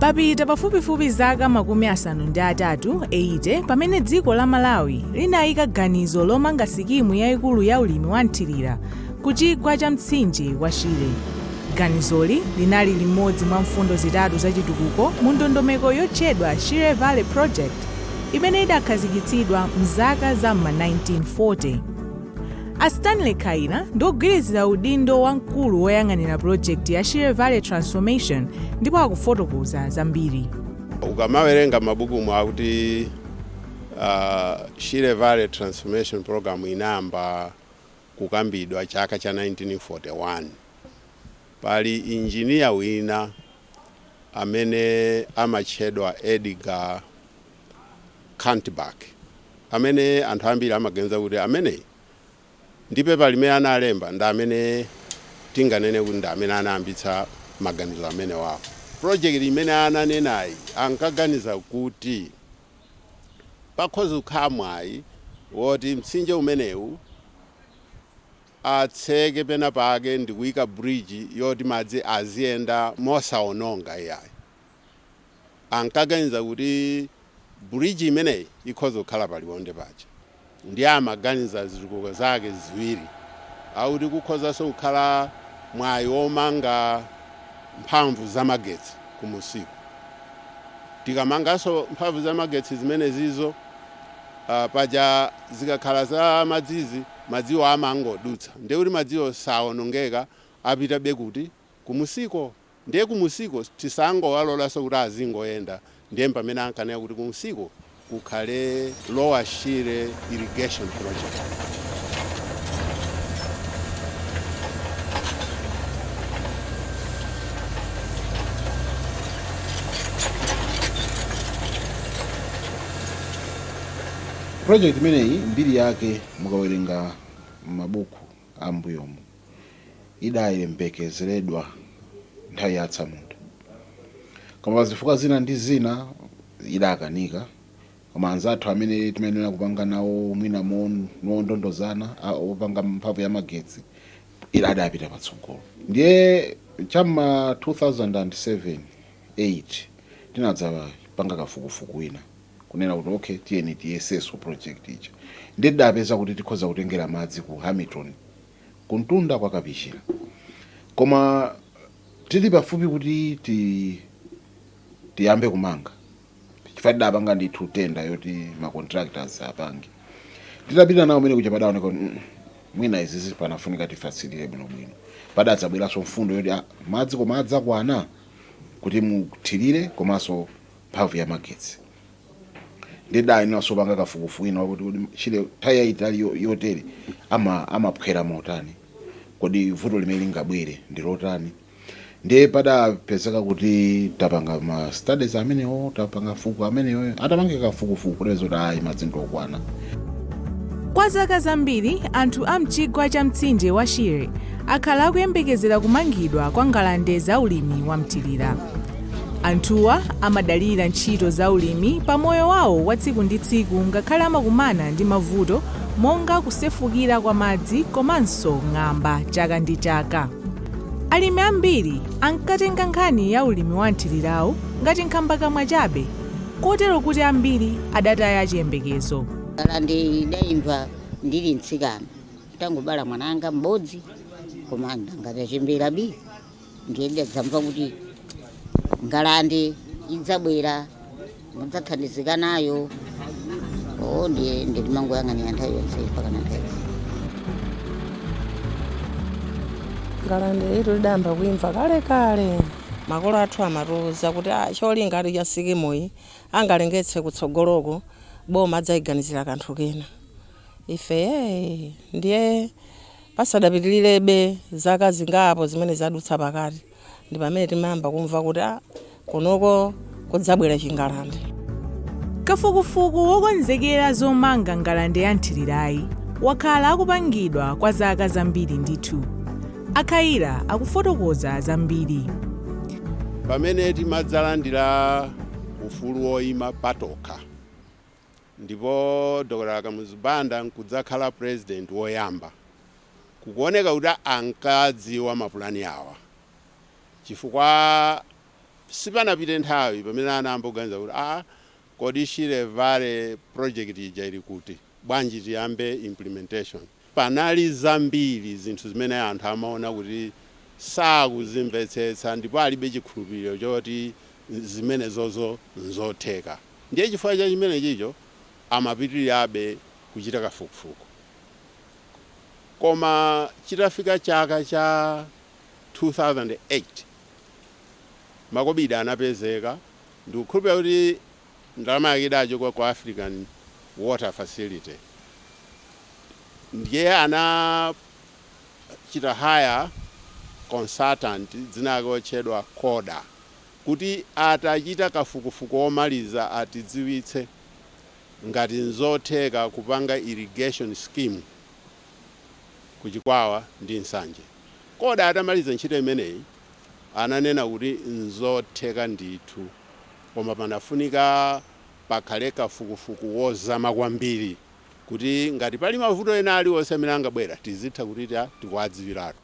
papita pafupifupi zaka makumi asanu ndi atatu 80 pamene dziko la malawi linayika ganizo lomanga sikimu yayikulu ya ulimi wa mthirira ku chigwa cha mtsinje wa shire ganizoli linali limodzi mwa mfundo zitatu za chitukuko mu ndondomeko yotchedwa shire valley project imene idakhazikitsidwa mzaka za m'ma 1940 a stanley kaira ndi ogwirizira udindo wa mkulu woyang'anira pulojekiti ya shire valley transformation ndipo akufotokoza zambiri ukamawerenga m'mabukumu akuti uh, shire valley transformation program inayamba kukambidwa chaka cha 1941 pali injiniya wina amene amatchedwa edgar Kanthack, amene anthu ambiri amaganiza kuti ameneyi ndi pepa limene analemba ndi amene tinganene kuti ndi amene anayambitsa maganizo amenewawo. Project imene ananenayi ankaganiza kuti pakhoza kukhala mwayi woti mtsinje umenewu atseke penapake ndi kuika bridge yoti madzi aziyenda mosawononga iyayi. ankaganiza kuti bridge imeneyi ikhoza kukhala pa Liwonde paja ndiye amaganiza zitukuko zake ziwiri akuti kukhozanso kukhala mwayi womanga mphamvu zamagetsi kumusiko tikamanganso mphamvu zamagetsi zimenezizo uh, paja zikakhala za madzizi madziwo amangodutsa ndiye kuti madziwo sawonongeka apitabe kuti kumusiko Ndiye kumusiko tisangowalolanso kuti azingoyenda ndiye mpamene ankanena kuti kumusiko kukhale Lower Shire Irrigation Project. Project imeneyi mbiri yake mukawerenga m'mabuku a m'mbuyomu. idayembekezeredwa nthawi ya atsamunda koma pa zifukwa zina ndi zina idakanika koma anzathu amene timayenera kupanga nawo mwina mo- mondondozana a- opanga mphamvu ya magetsi ija adapita patsogolo ndiye cha m'ma 2007 8 tinadzapanga kafukufuku wina kunena kuti okay tiyeni tiyeseso project ija ndiye tidapeza kuti tikhoza kutengera madzi ku hamilton kumtunda kwa Kapichira. Koma tili pafupi kuti ti tiyambe kumanga chifukwa tidapanga ndithu tenda yoti ma contractors apange. Titapita nayo mmene muja padaoneka kuti mm, mwina izizi panafunika tifatsirire bwinobwino. Padadzabweranso mfundo yoti ah, madzi koma adzakwana kuti muthirire komanso mphamvu ya magetsi ndiye tidayeneranso kupanga kafukufuku wina wakuti kodi Shire nthawi yayitali yo- yotere ama- amaphwera motani kodi vuto limene lingabwere ndi lotani ndiye padapezeka kuti tapanga ma studies amenewo tapanga fuku amenewo atapange kafukufuku kuti zoti ayi madzi ndi okwana Kwa zaka zambiri, anthu a mchigwa cha mtsinje wa Shire akhala akuyembekezera kumangidwa kwa ngalande za ulimi wa mthirira. Anthuwa amadalira ntchito za ulimi pa moyo wawo wa tsiku ndi tsiku ngakhale amakumana ndi mavuto monga kusefukira kwa madzi komanso ng'amba chaka ndi chaka. Alimi ambiri ankatenga nkhani ya ulimi wa mthirirawu ngati nkhambakamwa chabe kotero kuti ambiri adataya chiyembekezo. Ngalande tidaimva ndili mtsikana, nditangobala mwana wanga m'bodzi, komano nanga tachembera bi. ndiye tidadzamva kuti ngalande idzabwera mudzathandizika nayo o ndiye timangoyang'anira nthawi yonse mpakana nthawi ngalande ito tidayamba kuimva kale kale makolo athu amatiuza kuti "Ah, cholingatu cha sikimoyi angale ngati kutsogoloko boma adzayiganizira kanthu kena ife "Eh, ndiye Pasadapitirirebe zaka zingapo zimene zadutsa pakati ndi pamene timayamba kumva kuti ah kunoko kudzabwera chingalande. Kafukufuku wokonzekera zomanga ngalande ya mthirirayi wakhala akupangidwa kwa zaka zambiri ndithu. A Khaila akufotokoza zambiri. Pamene timadzalandira ufulu woyima patokha. ndipo Dr Kamuzu Banda nkudzakhala president woyamba, kukuoneka kuti ankadziwa mapulani awa chifukwa sipanapite nthawi pamene anayamba kuganiza kuti aah kodi Shire Valley project ija ili kuti? Bwanji tiyambe implementation? Panali zambiri zinthu zimene anthu amaona kuti sakuzimvetsetsa ndipo alibe chikhulupiriro choti zimenezozo nzotheka. Ndiye chifukwa cha chimenechicho amapitirirabe kuchita kafukufuku. Koma chitafika chaka cha 2008, makobidi anapezeka. Ndikukhulupirira kuti ndalama yake idachoka ku African Water Facility ndiye anachita hire consultant dzina lake otchedwa Koda kuti atichitire kafukufuku omaliza atidziwitse ngati nzotheka kupanga irrigation scheme ku Chikwawa ndi Nsanje. Koda atamaliza ntchito imeneyi ananena kuti nzotheka ndithu. koma panafunika pakhale kafukufuku wozama kwambiri kuti ngati pali mavuto ena aliwonse amene angabwere tizitha kuti tikuwadziwiratu.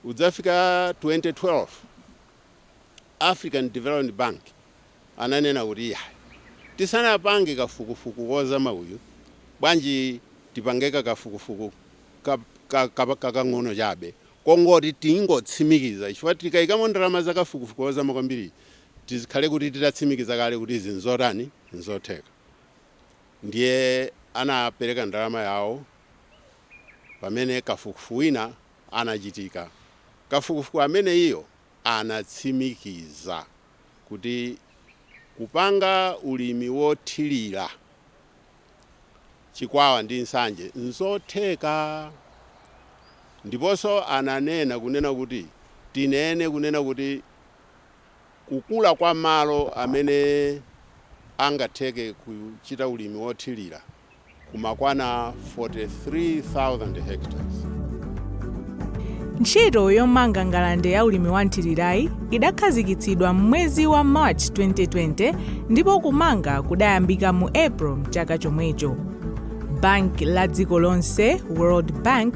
Kudzafika 2012 African Development Bank ananena kuti iyayi tisanapange kafukufuku wozama uyu bwanji tipange kakafukufuku kakang'ono chabe kongoti tingotsimikiza chifukwa tikaikamo ndalama za kafukufuku wozama kwambiri tizikhale kuti titatsimikiza kale kuti izi nzotani nzotheka ndiye anapereka ndalama yawo pamene kafukufuku wina anachitika kafukufuku ameneyo anatsimikiza kuti kupanga ulimi wothirira chikwawa ndi nsanje nzotheka ndiponso ananena kunena kuti tinene kunena kuti kukula kwa malo amene angatheke kuchita ulimi wothilira kumakwana 43,000 hectares. Ntchito yomanga ngalande ya ulimi wa mthirirayi idakhazikitsidwa m'mwezi wa March 2020 ndipo kumanga kudayambika mu April mchaka chomwecho. Banki la dziko lonse, World Bank,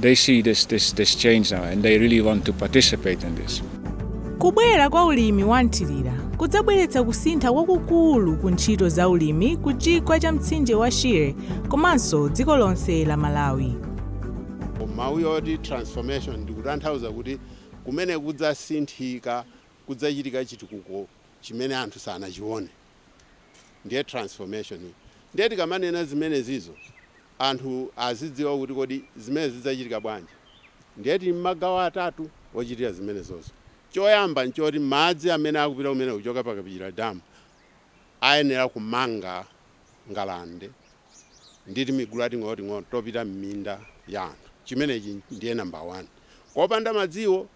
They see this, this, this change now and they really want to participate in this. Kubwera kwa ulimi wa mthirira kudzabweretsa kusintha kwakukulu ku ntchito za ulimi ku chigwa cha mtsinje wa Shire komanso dziko lonse la Malawi. mawu yoti transformation ndikutanthauza kuti kumeneko kudzasinthika kudzachitika chitukuko chimene anthu sanachione ndiye transformation ndiye tikamanena zimenezizo anthu azidziwa kuti kodi zimenezi zidzachitika bwanji. Ndiye tili ndi magawo atatu ochitira zimenezozo. Choyamba n'choti madzi amene akupita kumeneko kuchoka pa Kapichira Dam ayenera kumanga ngalande ndi timigulu tating'onoting'ono topita m'minda ya anthu. Chimenechi ndiye number 1. Kopanda madziwo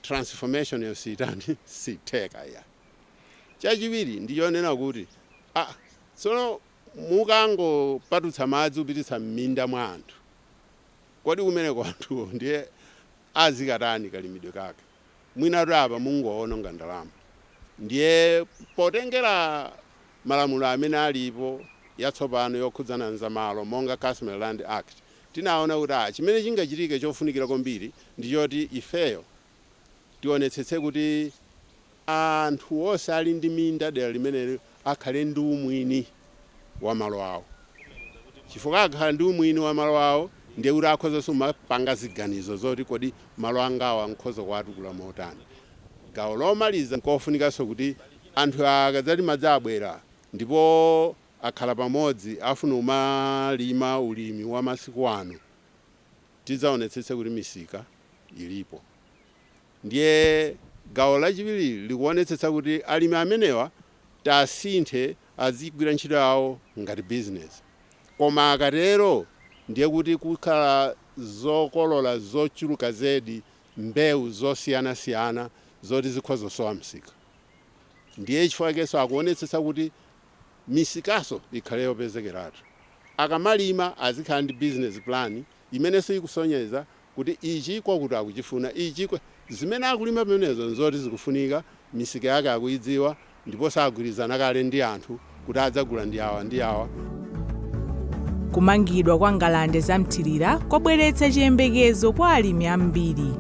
transformation'yo siitani, siitheka iyayi. Chachiwiri ndi chonena kuti, ah, tsono. mukangopatutsa madzi kupititsa m'minda mwa anthu kodi kumeneko anthuwo ndiye azikatani kalimidwe kake mwinatu apa mungowononga ndalama ndiye potengera malamulo amene alipo atsopano okhudzana ndi za malo monga customary land act tinaona kuti aah chimene chingachitike chofunikira kwambiri ndi choti ifeyo tionetsetse kuti anthu onse ali ndi minda dera limenelo akhale ndi umwini wa malo awo chifukwa akakhala ndi umwini wa malo awo ndiye kuti akhozanso kumapanga ziganizo zoti kodi malo angawa nkhoza kuwatukula motani gawo lomaliza nkofunikanso kuti anthu akadzati madzi abwera ndipo akhala pamodzi afuna kumalima ulimi wa masiku ano tidzaonetsetse kuti misika ilipo. Ndiye gawo lachiwiri likuonetsetsa kuti alimi amenewa asinthe azigwira ntchito yawo ngati bizinesi. Koma akatero ndiye kuti kukhala zokolola zochuluka zedi, mbewu zosiyanasiyana zoti zikhoza kusowa misika. Ndiye chifukwa chakenso akuonetsetsa kuti misikanso ikhale yopezekeratu. Akamalima azikhala ndi bizinesi pulani imenenso ikusonyeza kuti ichi kwakuti akuchifuna, ichi kwa. Zimene akulima pamenepo nzoti zikufunika, misika yake akuidziwa, ndiponso agwirizana kale ndi anthu kuti adzagula ndi awa ndi awa. Kumangidwa kwa ngalande za mthirira kwabweretsa chiyembekezo kwa alimi ambiri.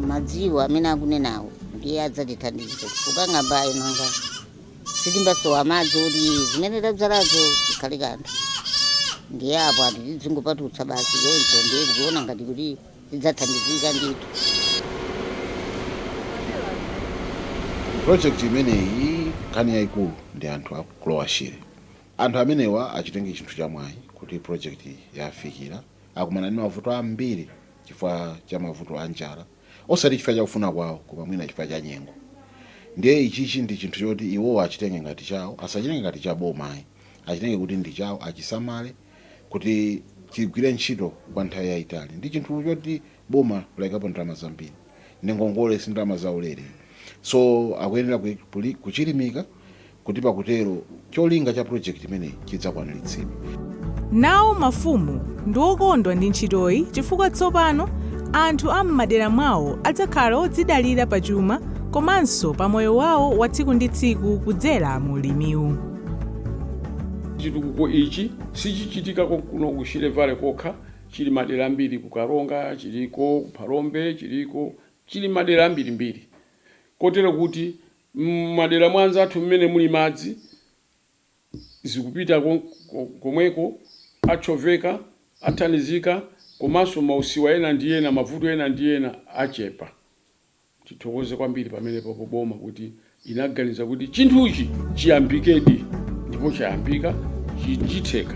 Madziwo amene akunenawo ndiye adzatithandiza kukang'amba ena nga. sitimbasowa madzi kuti zimene tabzalazo zikhale kanthu ndiye apo ati tidzingopatutsa basi choncho ndiye tikuona ngati kuti tidzathandizika ndithu project imeneyi nkhani yayikulu ndi anthu a ku lower shire anthu amenewa achitenge chinthu chamwayi kuti project yafikira akumana ndi mavuto ambiri chifukwa cha mavuto a njala osati chifukwa cha kufuna kwawo, koma mwina chifukwa cha nyengo. Ndiye ichichi ndi chinthu choti iwowo achitenge ngati chawo, asachitenge ngati cha boma ayi, achitenge kuti ndi chawo, achisamale kuti chigwire ntchito kwa nthawi yaitali. Ndi chinthu choti boma layikapo ndalama zambiri, ndi ngongole, si ndalama zaulere. So akuyenera kuchilimika kuti pakutero cholinga cha project imeneyi chidzakwanilitsidwe. Nawo mafumu ndi okondwa ndi ntchitoyi chifukwa tsopano anthu a m'madera mwawo adzakhala odzidalira pa chuma komanso pa moyo wawo wa tsiku ndi tsiku kudzera mu ulimiwu. Chitukuko ichi sichichitika konkuno ku Shire Valley kokha, chili madera ambiri ku Karonga, chiliko ku Phalombe, chiliko chili madera ambirimbiri kotero kuti M'madera mwa anzathu m'mene muli madzi zikupita komweko, achoveka, athandizika komanso mausiwa ena ndi ena, mavuto ena ndi ena achepa. Tithokoze kwambiri pamenepopo boma kuti inaganiza kuti chinthuchi chiyambikedi ndipo chayambika, chitheka.